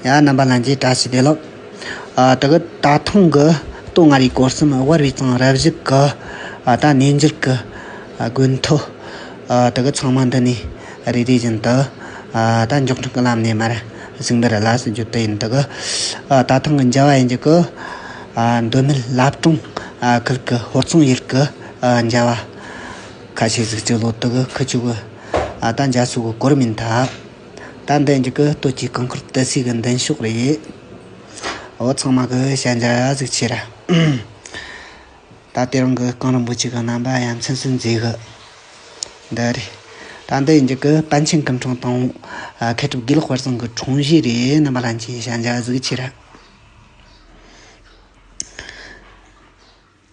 ཡང་རྣམ་པ་ལན་ཅིག་བཀྲ་ཤིས་བདེ་ལེགས། དེ་གི་ད་ཐེངས་ཀྱི་སྟོད་མངའ་རིས་སྐོར་གསུམ་དབར་བའི་ཚང་རབ་བཞི་གི་ད་གནས་འགྱུར་གྱི་དགོས་མཐོ། དེ་གི་ཚང་མ་འདི་ནས་རེ་རེ་བཞིན་དུ་ད་མགྱོགས་མགྱོགས་ཀྱི་ལམ་ནས་མར་གཟིགས་འབུལ་གླ་སུ་རྒྱུ་དེ་ཡིན། དེ་གི་ད་ཐེངས་ཀྱི་འཇལ་བ་ཡན་གྱི་གི་འདོད་མོས་བླ་བྲང་ཁུལ་གྱི་ཧོར་ཚང་ཡུལ་གྱི་འཇལ་བ་ཁ་ཤས་གཟིགས་ཀྱི་ལོ་དེ་གི་ཁུ་བྱུག་གི་ད་འཇལ་སུ་གི་གོར་མིན་ད། ཏན་ཏན་གྱི་གུ་དོད་ཀྱི་གང་ཁུར་དེ་སྲིད་ཀྱི་མདུན་ཤོག་རེད། འོ་ཚང་མ་གུ་ཞལ་མཇལ་ཡག་ཟིག་ཆེ་ར། ད་ལྟའི་རང་གི་རྐང་རིང་པོ་གཅིག་གི་རྣམ་པ་ཡ་མཚན་སུས་མཛེས་གི། འདི་རེད། ཏན་ཏན་གྱི་གུ་པཎ་ཆེན་སྐུ་འཕྲེང་དང། མཁས་གྲུབ་དགེ་ལེགས་དཔལ་བཟང་གི་འཁྲུངས་གཞིས་རེད་རྣམ་པ་ལྷན་ཅིག་ཞལ་མཇལ་ཡག་ཟིག་ཆེ་ར།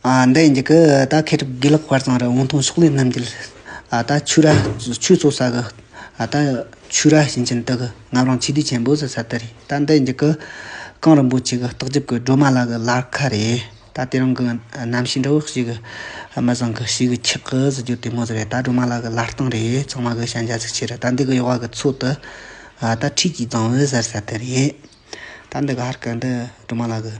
འདི་ཡིན་གྱི། ད་ཁེ་གྲི་དགེ་ལགས་དཔར་བཟང་རི་བོང་ཐང་ཕྱོགས་ལས་རྣམ་རྒྱལ། ད་ཆུ་ར་ཆུ་གཙོ་ས་གི། ད་ཆུ་ར་ཞིང་ཆེན་དག་གི། ངམ་རང་ཆིག་སྡུད་ཆེན་པོ་ཟེར་ས་དེ་རེད། ད་འདི་ཡིན་གྱི། གངས་རིན་པོ་ཆེ་གི་རྟགས་འཇིབ་གི་སྒྲོལ་མ་ལགས་གི་ལར་ཁ་རེད། ད་དེ་རང་གི་རྣམ་ཤེས་འདྲ་བོ་ཞིག་གི། མི་བཟང་གི་ཞིག་གི་ཁྱག་གི་ཟེར་རྒྱུ་དེ་མོ་ཟེར་རེད། ད་སྒྲོལ་མ་ལགས་གི་ལར་སྟེང་རེད། ཚང་མ་གི་ཤ་འཇའ་ཚིག་ཆེ་རེད། ད་འདི་གི་གཡོག་བ་གི་ཚོད་དུ། ད་ཁྲིད་ཀྱི་བཟང་བོ་ཟེར་ས་དེ་རེད། ད་འདི་གི་ཧར་གི་འདི་སྒྲོལ་མ་ལགས་གི།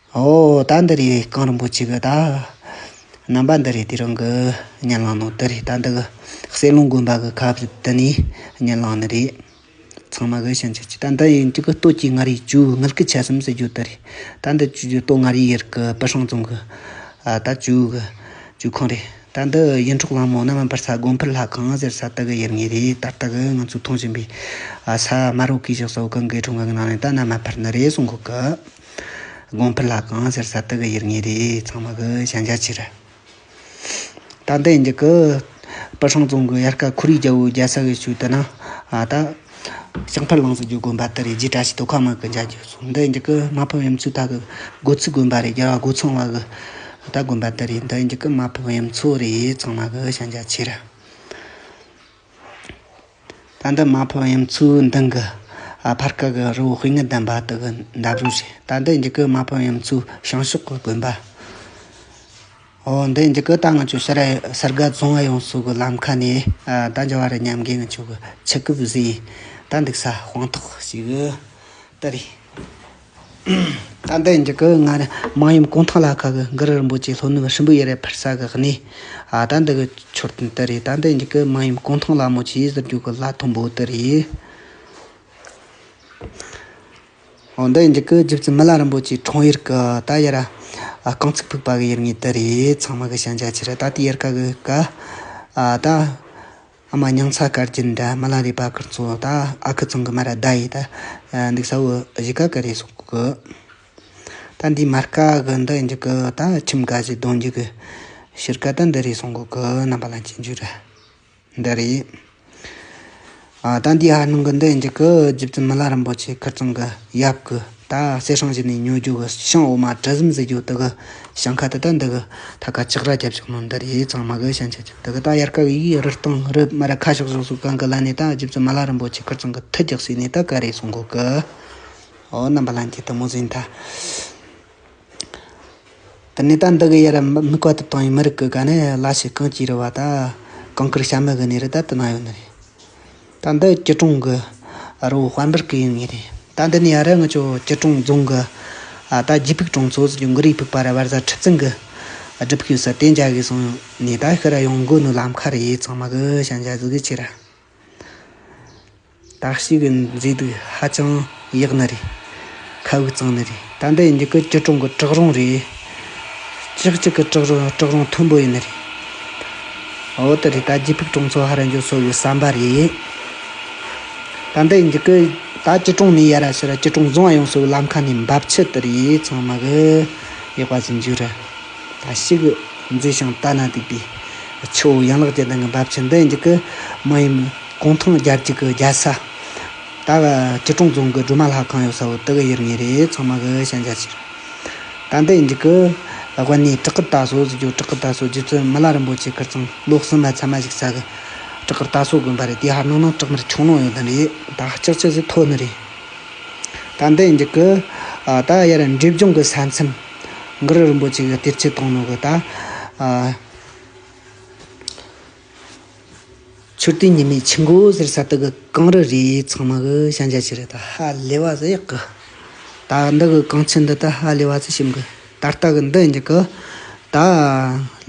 ཨོ་ད་འདི་རེད་གངས་རིན་པོ་ཆེ་གི་ད་རྣམ་པ་འདི་རེད་དེ་རང་གི་གཉེན་ལགས་ནང་དེ་རེད་ད་འདི་གི་གསེར་ལུང་དགོན་པ་གི་ཁ་བརྡ་ནས་གཉེན་ལགས་ནི་རེད། ཚང་མ་གི་ཞེན་ཆགས་ཀྱི་ད་འདི་ཡིན་གྱི་གི་སྟོད་ཀྱི་མངའ་རིས་ཇུའུ་དངུལ་གི་ཆ་སེམས་ཟེར་རྒྱུ་དེ་རེད་ད་འདི་ཇུའུ་སྟོད་མངའ་རིས་ཡེར་གི་པི་ཧྲང་རྫོང་གི་ད་ཇུའུ་གི་ཇུའུ་ཁང་རེད་ད་འདི་ཡིན་འཕྲོག་གླང་མོ་རྣམ་པར་ས་དགོན་ཕུར་ལྷ་ཁང་ཟེར་ས་དེ་གི་ཡེར་ངེས་རེད་ད་ལྟ་གི་ང་ཚོས་མཐོང་བཞིན་པའི་ས་དམར་བོ་གིས་བཞག་ས་བོ་གང་གི་འཕྲོག་འགའ་གི་ནང་ནས་ད་རྣམ་མ་ཕར་ནི་རེད་སོང་གི་གི། དགོངས་འཕེལ་ལགས་གང་ཟེར་ས་དེ་གི་ཡིར་ངེས་རེད་ཚང་མ་གི་ཞན་ཆ་ཆེ་རེད། ད་ལྟ་ཡིན་གྱི་པི་ཧྲང་རྫོང་གི་ཡར་ཀ་ཁོར་ཡུག་རྒྱ་བོའི་རྒྱལ་ས་གི་ཆུ་དེ་ན་ད་ཞིང་ཕར་ལངས་སུ་རྒྱུག་དགོན་པ་དེ་རེད་རྗེས་གྲ་ཞིག་དོ་ཁ་མ་གི་འཇའ་རྒྱུ་སོང་འདི་ཡིན་གྱི་མ་ཕུ་ཡུམ་ཆུ་ད་གི་སྒོ་ཚུགས་དགོན་པ་རེད་རྒྱལ་བ་སྒོ་ཚང་བ་གི་ད་དགོན་པ་དེ་རེད་འདི་ཡིན་གྱི་མ་ཕུ་ཡུམ་ཆུ་རེད་ཚང་མ་གི་ཞན་ཆ་ཆེ་རེད། ད་ལྟ་མ་ཕོ་ཡུམ་ཆུའི་མདུན་གྱི་ཕར་སྐབས་ཀྱི་རི་བོ་དཔེ་ངན་ལྡན་པ་དེ་གའི་འདབས་རོལ་ཞིག་ད་ལྟའི་འཇིགས་སྐུལ་མ་ཕོ་ཡུམ་ཆུའི་བྱང་ཕྱོགས་ཀྱི་དགོན་པ། འོ་འདི་འཇིགས་སྐུལ་རྟ་རྔ་ཆུ་ཤར་གསར་དགའ་རྫོང་ཨ་ཡོང་སོགས་ཀྱི་ལམ་ཁ་ནས་ད་འཇོ་བ་རི་མཉམ་རྒན་གྱི་ཆོས་ཀྱི་ཕྱི་སྐབས་བཞིན་ད་འདུག་ས་དཔང་ཐོག་ཞིག་ཏུ་རེད། ད་ལྟའི་འཇིགས་སྐུལ་སྔ་རབས་དམངས་ཡོམ་གུང་ཐང་ལ་ཁ་གི་འགུལ་རིལ་འབུད་ཀྱི་ལྷོ་ནུབ་ཧྲིལ་འབུའི་གཡས་རལ་ཕར་ས་གི་གནས། ད་འདི་གི་འཕྱོར་སྟོན་དེ་རེད་ད་ལྟའི་འཇིགས་སྐུལ་དམངས་ཡོམ་གུང་ཐང་ལ་མོ་ཆི་ཡིས་ཟུར་རྒྱུག་གི་ལྷ་མཐོན་པོ་དེ་རེད། འོ་འདི་འཇིགས་སྐུལ་རྒྱུ་རྩི་མི་ལ་རིན་པོ་ཆེའི་གྲོང་ཡུལ་གི་ད་ཡེ་ར་རྐང་ཚུགས་ཕུག་པ་གི་ཡུལ་ངོས་དེ་རེད་ཚང་མ་གི་ཞན་ཆ་ཆེ་རེད་ད་ལྟའི་ཡེ་ར་ཀ་གི་ཀ། ད། ཨ་མ་མྱང་ཚ་ཀར་གྱི་འདྲ་མ་ལ་རས་པ་ཀར་ཚོ་ད་ཨ་ཁུ་ཚང་གི་མ་ར་ད་ཡིས་ད་འདུག་ས་བོ་བཞི་ཀ་ཀ་རེད་སོག་གི། ད་འདིའི་མ་རཀ་གི་འདི་འཇུག་གི་ད་ཁྱིམ་དགའ་བཞི་གདོན་འཇུག་གི་ཕྱིར་ཀ་ད་འདི་རེད་སོང་གི་རྣམ་པ་ལ་གྱི་འཇུག་ར་འདི་རེད། ད་འདིའི་ཨ་ནུ་གི་འདི་འཇུག་གི་རྗེ་བཙུན་མི་ལ་རིན་པོ་ཆེ་ཀར་ཚང་གི་ཡབ་གི། ད་གསེར་ཧྲང་ཞིག་ནས་ཉོ་རྒྱུ་གི་ཤིང་འོ་མ་གྲུ་གསུམ་བཟོས་རྒྱུ་འདི་གི་ཞིང་ཁ་དེ་དག་འདི་གི་ཐད་ཀ་ལྕགས་ར་རྒྱབ་ཅིག་ནང་འདིར་ཡས་ཚང་མ་གི་ཞིང་ཆེན་ཅིག་འདི་གི་ད་ཡར་ཀ་གི་ཡིག་རུ་སྟེང་རུ་སྨི་ར་ཁ་ཤོག་ཤོག་སུ་གང་གི་ལ་ནས་ད་རྗེ་བཙུན་མ་ལ་རིན་པོ་ཆེ་ཁེར་ཚང་གི་ཐུགས་རྒྱག་སའི་ནས་ད་ག་རེ་སོང་གོ་གི། ཨོ་རྣམ་པ་ལ་འཁྱེད་དུ་མོ་ཟིན་ད། ད་ནས་ད་འདི་གི་ཡར་དམིགས་བ་ཐུབ་ཐང་ཡིན་མི་རིགས་ཀྱི་དགའ་གནས་བླ་ཆེ་གང་ཅིའི་རི་བ་ད་གང་ཀིར་ཤ་མི་གི་ནས་རི་དར་དུ་གནང་ཡོད་ནི་རེད། ད་འདི་སྐྱིད་གྲོང་གི་རི་བོ་དཔལ་འབར་གི་ཡིན་ངེས་རེད། ད་འདི་ནས་ཡར་ང་ཚོ་སྐྱིད་གྲོང་རྫོང་གི་ད་རྗེ་ཕུག་གྲོང་ཚོ་ཡང་གི་རིའི་ཕུག་པ་ར་བར་ཟ་ཁྲི་བཙུན་གི་སྒྲུབ་ཕུག་ཡོད་ས་དེ་འཇའ་གི་སོང་ནས་ད་ཤི་ར་ཡོང་དགོས་ནི་ལམ་ཁ་རེད་ཚང་མ་གི་ཤ་འཇའ་ཟིག་གི་ཆེ་ར། བདག་གཅིག་གི་མཛེས་སྡུག་ཧ་ཅང་ཡག་ནི་རེད། ཁ་དབུགས་གཙང་ནི་རེད། ད་ལྟའི་འདི་གི་སྐྱིད་གྲོང་གི་གྲག་རོང་རེད། ཅིག་ཅིག་གི་གྲག་རོང་གྲག་རོང་མཐོན་པོ་ཡིན་ནི་རེད། འོ་དེ་རེད་ད་རྗེ་ཕུག་གྲོང་ཚོ་ཧ་ར་འཇོག་སོ་ཡོད་བསམ་པ་རེད། ད་ལྟའི་འདི་གི་ད་སྐྱིད་གྲོང་ནི་ཡ་ར་ཤི་ར་སྐྱིད་གྲོང་བཟང་བ་ཡོང་སོ་ལམ་ཁ་ནི་འབབ་ཆུ་དེ་རེད་ཚང་མ་གི་ཡག་པ་ཟིན་རྒྱུ་རེད། ད་ཤི་གི་མཛེས་ཤིང་ལྟ་ན་སྡུག་པའི་ཆུ་བོ་ཡན་ལག་ཅན་དང་གི་འབབ་ཆུ་འདི་འདི་གི་མ་ཡིན། གུང་ཐང་རྒྱལ་གཅིག་གི་རྒྱལ་ས། ད་གི་སྐྱིད་གྲོང་རྫོང་གི་སྒྲོལ་མ་ལྷ་ཁང་ཡོད་ས་བོ་དེ་གི་ཡུལ་ངེས་རེད་ཚང་མ་གི་ཤན་ཆ་ཆེ་རེད། ད་འདི་འཇིག་གི་དབེན་གནས་བྲག་དཀར་རྟ་ཟོ་ཟེར་རྒྱུ་བྲག་དཀར་རྟ་ཟོ་རྒྱུ་ཚུལ་མི་ལ་རིན་པོ་ཆེ་ཁིར་ཚང་ལོ་གསུམ་མ་ཚད་མ་ཞིག་ས་གི་བྲག་དཀར་རྟ་ཟོ་དགོན་པ་རེད་དེ་ཧར་ནང་ནང་བྲག་མར་ཆུང་ནང་ཡོད་དོན་རེད་ད་ལྕགས་ཆུ་ཟེར་ཐོ་ནི་རེད། ད་འདི་འཇིག་གི་ད་ཡར་འབྲས་ལྗོངས་གི་ས་མཚམས་མགར་རིན་པོ་ཆེ་གི་གཏེར་ཆེན་སྟོང་ནང་གི་ད། མཆོད་རྟེན་ཉི་མའི་ཆུ་འགོ་ཟེར་ས་དག་གི་གངས་རི་རེ་ཚང་མ་གི་ཤན་རྒྱ་ཆེ་རེ་ད་ཧ་ལས་བ་ཟེར་ཡག་གི། ད་འདི་གི་གངས་ཆུ་འདི་ད་ཧ་ལས་བ་ཚུལ་ཞིབ་གི། ད་ལྟ་གི་འདི་འཇིག་གི། ད་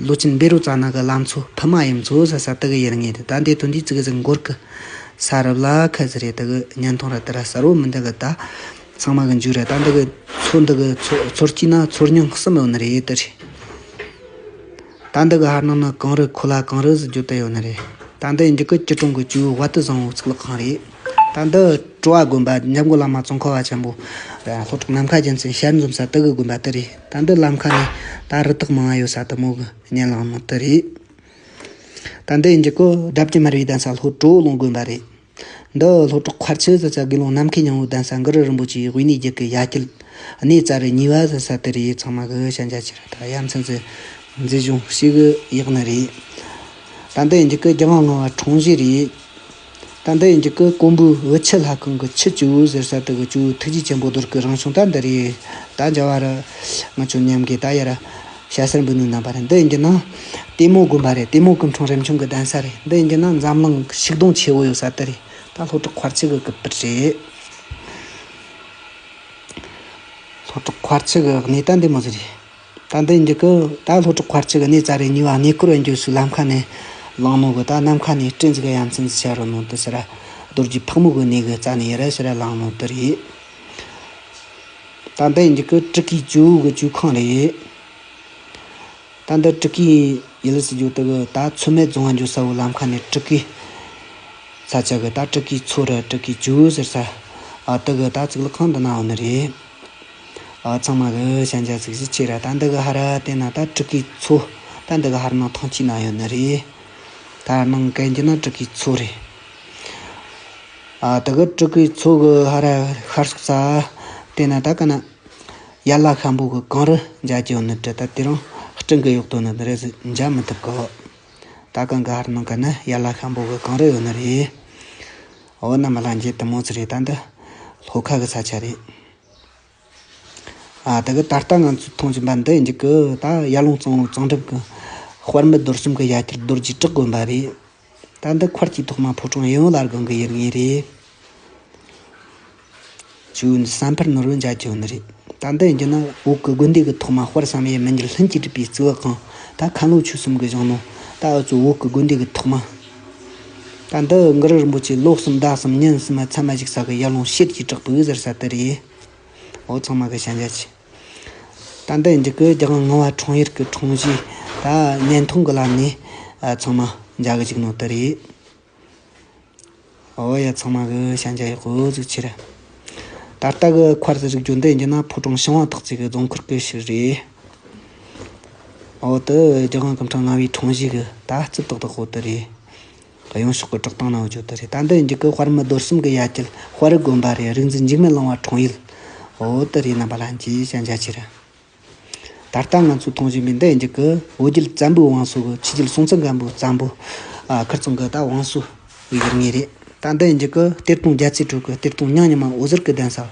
ལོ་ཆེན་སྦེ་རུ་རྩ་ནག་གི་ལམ་ཚོ་ཕུ་མ་ཡུམ་ཚོ་ཟེར་ས་དག་གི་ཡུལ་ངེས་ཏེ་ད་འདི་དོན་དུས་ཚིགས་ཟིག་འགོར་གི། ས་རུབ་ལ་ཁད་ཟེར་རེ་ད་གི་བརྙན་ཐུང་ར་དེ་ར་གསར་བོ་མི་འདི་གི་ད་ཚང་མ་གི་མཇུག་རེ་ད་འདི་གི་ཚོ་འདི་གི་ཚོ་ཚོར་སྐྱིད་ན་ཚོར་ཉུང་གསུམ་ཡོང་ནི་རེད་དི་རེད། ད་འདི་གི་ཧར་ནང་ནི་གངས་རི་ཁོ་ལ་གངས་རི་ཟེར་རྒྱུ་དེ་ཡོད་ནི་རེད། ད་འདི་ཡི་འཇིགས་སྐུལ་སྐྱིད་གྲོང་གི་ཇུའུ་བྷ་ཏི་བཟང་བོའི་གཙུག་ལག་ཁང་རེད། ད་འདི་ཀྲོ་བ་དགོན་པ་འཇམ་མགོན་བླ་མ་ཙོང་ཁ་བ་ཆེན་པོ་དང་ལྷོ་ཕྲོག་ནམ་མཁའ་རྒྱལ་མཚན་ཞལ་འཛོམས་ས་དེ་གི་དགོན་པ་དེ་རེད། ད་འདི་ལམ་ཁ་ནི་ད་རི་དྭགས་མང་བ་ཡོད་ས་དེ་མོ་གི་གཉེན་ལམ་དེ་རེད། ད་འདི་ཡི་འཇིགས་སྐུལ་དགྲ་བགེགས་མར་བའི་གདན་ས་ལྷོ་གྲོ་ལུང་དགོན་པ་རེད། འདི་ལྷོ་བྲག་ཁར་ཆུ་བཟའ་ས་དགེ་སློང་ནམ་མཁའི་ཉང་བོའི་གདན་ས་མགར་རིན་པོ་ཆེའི་དབུས་གནས་རྒྱུད་ཀྱི་ཡ་གྱལ། གནས་རྩ་རི་གཉིས་པ་བཟའ་ས་དེ་རེད་ཚང་མ་གི་ཤ་འཇའ་ཆེ་རུ་དང་ཡ་མཚན་ཚེ་མཛེས་གཞུང་གཤིས་ཀྱི་ཡག་ནི་རེད། ད་འདི་ཡི་འཇིགས་སྐུལ་རྒྱ་མ་ང་བ་འཁྲུངས་གཞིས་རེད། ད་འདི་ཡི་འཇིགས་སྐུལ་དཀོན་པོའི་འུ་ཆི་ལྷ་ཁང་གི་ཆུ་སྤྱི་བོའི་ཟེར་ས་དེ་གི་སྤྱི་བོའི་ཐུགས་རྗེ་ཆེན་པོ་རྡོར་སྐུའི་རང་བྱུང་ད་འདི་རེད། ད་འཇའ་བ་རི་ང་ཆུ་མཉམ་གི་ད་ཡ་རི། ཤ་སེར་འབུ་ནུ་རྣམ་པ་རེད་འདི་ཡིན་གྱི་ན། ལྟད་མོ་དགོན་པ་རེད་ལྟད་མོ་སྐུ་འཁྲུངས་རིམ་བྱུང་གི་གདན་ས་རེད་འདི་ཡིན་གྱི་ན་འཛམ་གླིང་ཤིག་སྡོང་ཆེ་བོ་ཡོད་ས་དེ་རེད་ད་ལྷོ་བྲག་འཁོར་ཆུ་གི་གུ་པར་རེད། ལྷོ་བྲག་འཁོར་ཆུ་གི་གནས་ད་འདི་མོ་ཟེར་རེད། ད་འདི་ཡིན་གྱི་གུ་ད་ལྷོ་བྲག་འཁོར་ཆུ་གི་གནས་རྩ་རེད་ཉིན་བ་གནས་སྐོར་བ་འགྱོད་སུ་ལམ་ཁ་ནས་ལང་མོ་གུ་ད་ནམ་མཁའ་ནས་སྤྲིན་གཟིགས་ཡ་མཚན་ཟིག་བྱ་རུ་མོ་དུ་ཟེར་ར་རྡོ་རྗེ་ཕག་མོ་གུ་གནས་གུ་རྩ་ནས་ཡེ་ར་ཟེར་ར་ལང་མོ་དུ་རེད། ད་འདི་འདི་གི་སྤྲུལ་སྐུའི་ཇོའུ་གི་ཇོའུ་ཁང་རེད། ད་འདི་སྤྲུལ་སྐུའི་ཡུལ་ལས་སུ་འགྱོ་དགོས་གི་ད་ཚོད་མེད་རྫོང་ང་འགྱོ་ས་བོ་ལམ་ཁ་ནས་སྤྲུལ་སྐུའི་ས་ཆ་གི་ད་སྤྲུལ་སྐུའི་མཚོ་རུ་སྤྲུལ་སྐུའི་ཇོའུ་ཟེར་ས་དེ་གི་ད་གཙུག་ལག་ཁང་དུ་ན་བ་ནི་རེད། ཚང་མ་གི་ཞན་ཆ་ཚིག་གཞི་ཆེ་ར་ད་འདི་གི་ཧར་དེ་ན་ད་སྤྲུལ་སྐུའི་མཚོ་ད་འདི་གི་ཧར་ནང་ཐང་ཆུའི་ན་ཡོད་ནི་རེད། ད་ནང་གན་གྱི་ན་སྤྲུལ་སྐུའི་མཚོ་རེད། ད་གི་སྤྲུལ་སྐུའི་ཚོགས་ཀྱི་ཧ་ར་ཤར་སོགས་རྩ། དེས་ན་ད་ག་ན། ཡར་ལ་ཤམ་པོ་གི་གངས་རི་འཇའ་ཀྱང་ནི་བྲི་ད་དེ་རང་སྤྲིན་གྱི་གཡོག་ཏུ་ནི་རེ་ཟིག་འཇའ་མི་ཐུབ་ཀི། ད་ག་འགའ་ཧར་ནང་གི་ནི་ཡར་ལ་ཤམ་པོ་གི་གངས་རི་ཡོད་ནི་རེད། འོ་ན་མ་ལ་འགྱེལ་དུ་མོ་ཚི་རེད་ད་འདི། ལྷོ་ཁ་གི་ས་ཆ་རེད། ད་གི་ད་ལྟ་ང་ཚོས་མཐོང་བཞིན་པ་འདི་འཇིག་གི་ད་ཡར་ཀླུང་གཙང་བོའི་གཙང་སྦྲ་གི་དཔར་མི་རྡོར་གསུམ་གི་ཡ་གྱལ་རྡོ་རྗེས་དྲག་དགོན་པ་རེད། ད་འདི་འཁོར་གྱི་ཐོག་མ་ཕོ་བྲང་ཡིན་ལར་དགོན་གི་ཡུལ་དངོས་རེད། ཆུ་འདི་ས་འཕར་ནོར་བུའི་འཇའ་ཁྱོན་ནི་རེད། ད་འདི་ཡིན་གྱི་ན་འོག་གི་དགོན་སྡེ་གི་ཐོག་མ་དཔར་བསམ་ཡས་མི་འགྱུར་ལྷུན་གྱིས་གྲུབ་པའི་རྩིག་བག་ཁང་ད་ཁ་ལོ་ཆུ་གསུམ་གི་གཞོང་ནོ། ད་འུ་ཚོའི་འོག་གི་དགོན་སྡེ་གི་ཐོག་མ། ད་འདི་འགུལ་རིལ་འབོ་ཆེ་ལོ་གསུམ་ཟླ་གསུམ་ཉིན་གསུམ་མཚན་མ་ཞིག་ས་གི་ཡར་ལུང་ཤེད་ཀྱིས་དྲག་པོའི་ཟེར་ས་དེ་རེད། འོ་ཚང་མ་གི་ཞན་ཆ་ཆེ། ད་འདི་འཇིགས་སྐུལ་རྒྱག་ང་བ་གྲོང་ཡུལ་གི་གྲོང་གཞིས་ད་བརྙན་ཐུང་གི་ལམ་ནས་ཚང་མ་མཇལ་གི་འཇུག་ནོ་དེ་རེད། ཨོ་ཡ་ཚང་མ་གི་ཤན་ཆ་ཡག་པོ་ཟིག་ཆེ་རེད། ད་ལྟ་གི་འཁོར་ཟེར་རིགས་རྒྱུ་འདི་ཡིན་ན་ཕོ་བྲང་ཤིང་བ་ཐག་བཅད་གི་རྫོང་འཁོར་གི་ཞིག་རེད། ཨོ་དི་རྒྱ་གང་གི་འཕྲང་ང་བའི་འཕྲང་བཞི་གི་ད་རྩི་ཏག་ཏག་ཨོ་དི་རེད། གཡང་ཕྱོགས་གི་བཀྲག་མདངས་ནང་བརྗོད་དི་རེད་ད་འདི་འཇིག་གི་དཔར་མི་རྡོར་གསུམ་གི་ཡ་གྱལ་དཔར་རི་དགོན་པ་རེད་རིག་འཛིན་འཇིགས་མེད་གླིང་བ་འཕྲང་ཡུལ་ཨོ་དི་རེད་རྣམ་པ་ལྷན་སྐྱེས་ཤན་ཆ་ཆེ་རེད། ད་ལྟ་ང་ཚོའི་ཐོངས་བཞིན་པའི་འདི་ཡིན་གྱི་ཀུའོ་རྒྱལ་བཙན་པོའི་བང་སོ་གི་ཕྱི་རྒྱལ་སྲོང་བཙན་སྒམ་པོའི་བཙན་པོ། ཁིར་ཙོང་གི་ད་བང་སོ་ཡིན་ངེས་རེད། ད་འདི་ཡིན་གྱི་ཀུའོ་གཏེར་སྟོང་རྒྱལ་རྩེ་དྲུག་གི་གཏེར་སྟོང་ཉང་ཉི་མ་འོད་ཟེར་གྱི་གདན་ས།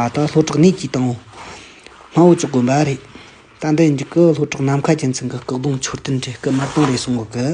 ད་ལྷོ་བྲག་གནས་ཀྱི་དང་བོ། སྨྲ་བོ་ཅོག་དགོན་པ་རེད། ད་འདི་ཡིན་གྱི་ཀུའོ་ལྷོ་བྲག་ནམ་མཁའ་རྒྱལ་མཚན་གྱི་སྐུ་གདུང་མཆོད་རྟེན་གྱི་སྐུ་དམར་སྟོང་རེད་གསུང་གི་ཀུའོ།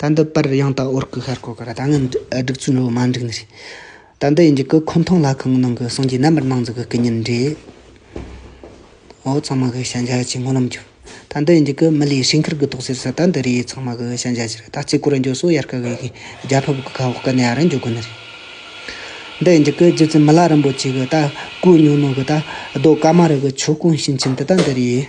ད་འདི་པར་ཡང་དག་ཨོར་སྐུ་ཤར་སྐོར་གི་ར་ད་ངན་སྒྲིག་ཚུལ་འགྲོ་མ་འགྲིག་ནི་རེད། ད་འདི་ཡིན་གྱི་ཀུ་ཁོམ་ཐང་ལྷ་ཁང་གི་ནང་གི་སངས་རྒྱས་རྣམ་པར་སྣང་མཛད་ཀྱི་སྐུ་བརྙན་འགྲེའོ། ཚང་མ་གི་ཤ་འཇའ་ཅིག་སྔོ་ལམ་གྱུར། ད་འདི་ཡིན་གྱི་ཀུ་མི་ལའི་ཞིང་ཁར་གི་ཐོག་སེར་ས་ད་འདི་རེད་ཚང་མ་གི་ཤ་འཇའ་ཅིག་རེད་ད་གཅིག་གུ་རུ་འཇོ་སོ་ཡར་ཀ་གི་ཡིན་གྱི་རྒྱ་ཕིབས་ཀྱི་ཁ་འོག་གི་ནས་ཨ་ར་འཇོ་དགོས་ནི་རེད། འདི་ཡིན་གྱི་ཀུ་རྗེ་བཙུན་མི་ལ་རིན་པོ་ཆེ་གི་ད་ཀུ་ཉོ་ནོ་གི་ད་རྡོ་ཀ་མ་རི་གི་ཆོས་སྐོང་ཤིང་ཆེན་དེ་ད་འདི་རེད།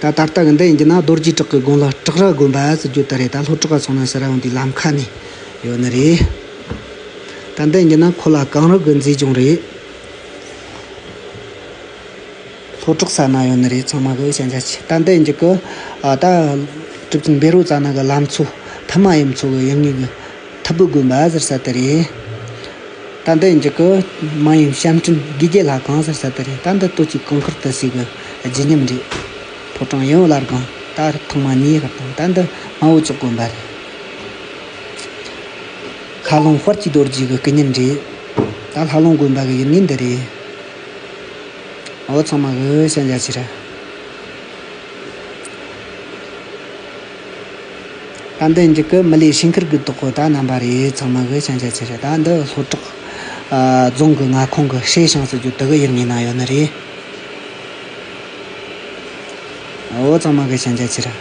ད་ད་ལྟ་གི་འདི་ཡིན་རྒྱུ་ན་རྡོ་རྗེ་བྲག་གི་དགོན་ལ་བྲག་རྭ་དགོན་པ་ཟེར་རྒྱུ་ད་རེད་ད་ལྷོ་བྲག་ག་སོང་ན་ཟེར་རང་དེ་ལམ་ཁ་ནས་ཡོད་ནི་རེད། ད་འདི་ཡིན་རྒྱུ་ན་ཁོ་ལ་གངས་རི་དགོན་མཛེས་ལྗོངས་རེད། ལྷོ་བྲག་ས་ན་ཡོད་ནི་རེད་ཚང་མ་གི་ཤ་འཇའ་ཆེ་ད་འདི་ཡིན་རྒྱུ་གི། ད། གྲུབ་ཆེན་བེ་རོ་ཙཱ་ན་གི་ལམ་ཚོ་ཐ་མ་ཡུམ་ཚོ་གི་ཡུལ་དངོས་གི། ཐབས་བུ་དགོན་པ་ཟེར་ས་དེ་རེད། ད་འདི་འཇིགས་སྐུལ་མ་ཡིན་ཞབས་འཕྲིན་དགེ་རྒྱལ་ལྷ་ཁང་ཟེར་ས་དེ་རེད་ད་འདི་ལྟོ་གཅིག་གང་ཁུར་དུ་སི་གི་བརྗིད་ཉམས་རེད། ཕོ་བྲང་ཡོན་བླ་སྒང་ད་རི་ཐང་མ་ཉེ་ཧེར་དང་ད་འདི་སྨྲ་བོ་ཅོག་དགོན་པ་རེད། ཁ་སློང་དཔར་གྱི་རྡོ་རྗེ་གི་སྐུ་བརྙན་རེད། ད་ལྷ་སློང་དགོན་པ་གི་ཡུལ་མིང་འདི་རེད། འོ་ཚང་མ་གི་ཤ་འཇའ་ཕྱིར། ད་འདི་འཇིགས་སྐུལ་མི་ལའི་ཞིང་ཁུལ་གྱི་དོག་གོ་ད་རྣམ་པ་རེད་ཚང་མ་གི་ཞན་ཆ་ཆེ་རེད་ད་འདི་ལྷོ་བྲག་རྫོང་གི་མངའ་ཁོངས་གི་ཧྲེ་ཞང་ཟེར་རྒྱུ་དེ་གི་ཡུལ་ངོས་ན་ཡོད་ནི་རེད་འོ་ཚང་མ་གི་ཞན་ཆ་ཆེ་རེད།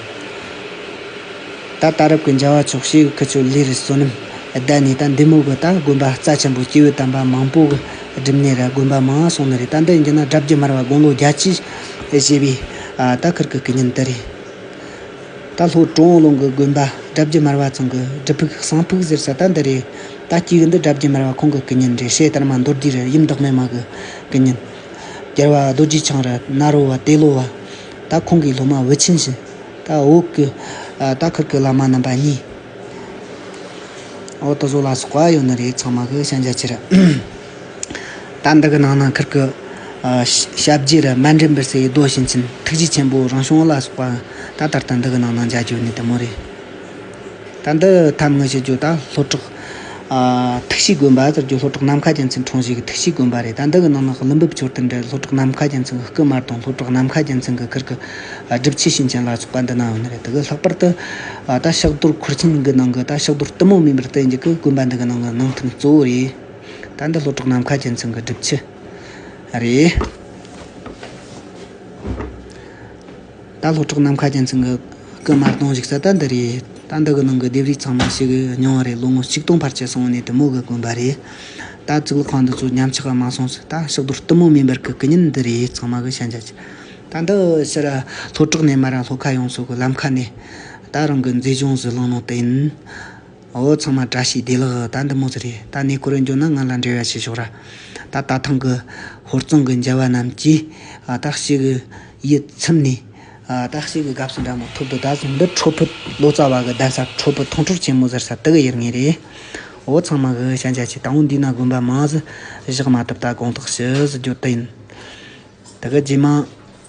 ད་ད་རུབ་གི་འཇའ་བ་ཕྱོགས་བཞི་གི་ཁུལ་ཆུ་ལྷའི་རི་བསོད་ནམས་བསྡད་ནས་ད་འདི་མོ་གི་ད་དགོན་པ་རྩ་ཆེན་པོ་སྐྱེ་བོའི་དམ་པ་མང་པོ་གི་སྒྲིབ་གནས་རེད་དགོན་པ་མང་སོང་ནི་རེད་ད་འདི་འཇིགས་ན་དགྲ་བགེགས་མར་བ་དགུང་ལོ་བརྒྱ་བཅུའི་བཞེས་པའི་ད་ཁུར་གི་དཀའི་ཉིན་དེ་རེད། ད་ལྷོ་ཀྲོའུ་ཨོང་ལུང་གི་དགོན་པ་དགྲ་བགེགས་མར་བ་ཚང་གི་སྒྲུབ་ཕུག་གསང་ཕུག་ཟེར་ས་ད་འདི་རེད། ད་ཅིག་འདི་དགྲ་བགེགས་མར་བ་ཁོང་གི་སྐུ་ཉིན་རེད་བཤད་ལྟར་མ་མདོར་བསྡུས་རེར་ཡུམ་བདག་མེད་མ་གི་སྐུ་ཉིན། རྒྱལ་བ་རྡོ་རྗེ་འཆང་རི་ནཱ་རོ་བ་ཏེ་ལོ་བ། ད་ཁོང་གི་སློབ་མ་བུ་ཆེན་བཞི། ད་འོག་གི་ད་ཁུར་གི་བླ་མ་རྣམ་པ་གཉིས། འོག་ཏུ་བཟོ་ལ་སོགས་པ་ཡོད་ནི་རེད་ཚང་མ་གི་ཞལ་མཇལ་ཕྱིར། རྟ་འདི་གི་ནང་ན་ཁིར་གི། ཞབས་རྗེས་ར་མ་འདྲེན་པར་སའི་རྡོ་བཞིན་ཅིན་ཐུགས་རྗེ་ཆེན་པོ་རང་བྱུང་ལ་སོགས་པ། ད་ལྟར་རྟ་འདི་གི་ནང་ན་འཇའ་གྱུར་ནས་དེ་མོ་རེད། རྟ་འདི་ཐབས་དངོས་ཞེས་བརྗོད་ད་ལྷོ་བྲག། ཐུགས་གཤིས་དགོན་པ་ཟེར་རྒྱུ་ལྷོ་བྲག་ནམ་མཁའ་རྒྱལ་མཚན་འཕྲོང་བཞེས་ཀྱི་ཐུགས་གཤིས་དགོན་པ་རེད་རྟ་འདི་གི་ནང་ན་གླུ་འབུབས་མཆོད་རྟེན་འདྲེ་ལྷོ་བྲག་ནམ་མཁའ་རྒྱལ་མཚན་གྱི་སྐུ་དམར་དང་ལྷོ་བྲག་ནམ་མཁའ་རྒྱལ་མཚན་གྱི་ཁིར་གི། སྒྲུབ་བྱེད་ཤིང་ཆེན་ལ་སོགས་པ་འདི་ནའང་རེད་དེ་གི་ལྷག་པར་དུ། རྟ་ཕྱག་རྡོར་འཁོར་ཆེན་གི་ནང་གི་རྟ་ཕྱག་རྡོར་གཏི་མུག་མིན་པར་བསྟན་རྒྱུ་གི་དགོན་པ་འདི་གི་ནང་གི་ནང་མཐུན་གཙོ་བོ་རེད། ད་འདི་ལྷོ་བྲག་ནམ་མཁའ་རྒྱལ་མཚན་གྱི་སྒྲུབ་ཆུ་རེད། ད་ལྷོ་བྲག་ནམ་མཁའ་རྒྱལ་མཚན་གྱི་སྐུ་དམར་གདོང་བཞུགས་ས་ད་འདི་རེད། ད་འདི་གི་ནང་གི་ལྡེབས་རིས་ཚང་མ་ཕྱི་གི་མྱོང་བ་རེད་ལོ་ངོ་ཆིག་སྟོང་ཕར་ཆེར་སོང་བ་ནས་དུ་མོ་གི་དགོན་པ་རེད། ད་གཙུག་ལག་ཁང་འདི་ཚོ་ཉམས་ཆག་ག་མ་སོང་ཚེ་ད་ཕྱག་རྡོར་གཏི་མུག་མེ་འབར་གྱི་སྐུ་བརྙན་འདི་རེད་ཚང་མ་གི་ཤན་ཆ་ཅི། ད་འདི་ཕྱི་ར་ལྷོ་བྲག་ནས་མ་ར་ལྷོ་ཁ་ཡོང་སོགས་གི་ལམ་ཁ་ནས། ད་རང་གི་མཛེས་ལྗོངས་སུ་ལངས་ནང་དུ་ཡིན། འོ་ཚང་མ་བཀྲ་ཤིས་བདེ་ལགས་ད་འདི་མོ་ཚོ་རེད་ད་གནས་སྐོར་ཡང་འབྱོར་ན་ང་ལ་འབྲེལ་བ་བྱེད་ཤོག་ར་ད་ད་ཐང་གི་ཧོར་གཙང་གི་མཇལ་བ་རྣམས་ཀྱིས་སྟག་གཤིས་ཀྱི་ཡིད་ཚིམ་ནས། སྟག་གཤིས་ཀྱི་དགའ་བསུ་འདྲ་མོ་ཐོབ་འདུག་ད་གཟོད་འདི་ཁྲོ་ཕུད་ལོ་ཙཱ་བ་གི་གདན་ས་ཁྲོ་ཕུད་ཐང་ཁྲོར་ཆེན་མོ་ཟེར་ས་དེ་གི་ཡུལ་ངེས་རེད་འོ་ཚང་མ་གི་ཤ་འཇའ་ཆེ་ད་འོ་འདི་ན་དགོན་པ་མང་གཟི་བཞག་མ་ཐུབ་ད་དགོངས་དག་ཞུ་གཟི་རྒྱུ་དེ་ཡིན་ད་གི་རྗེས་མ།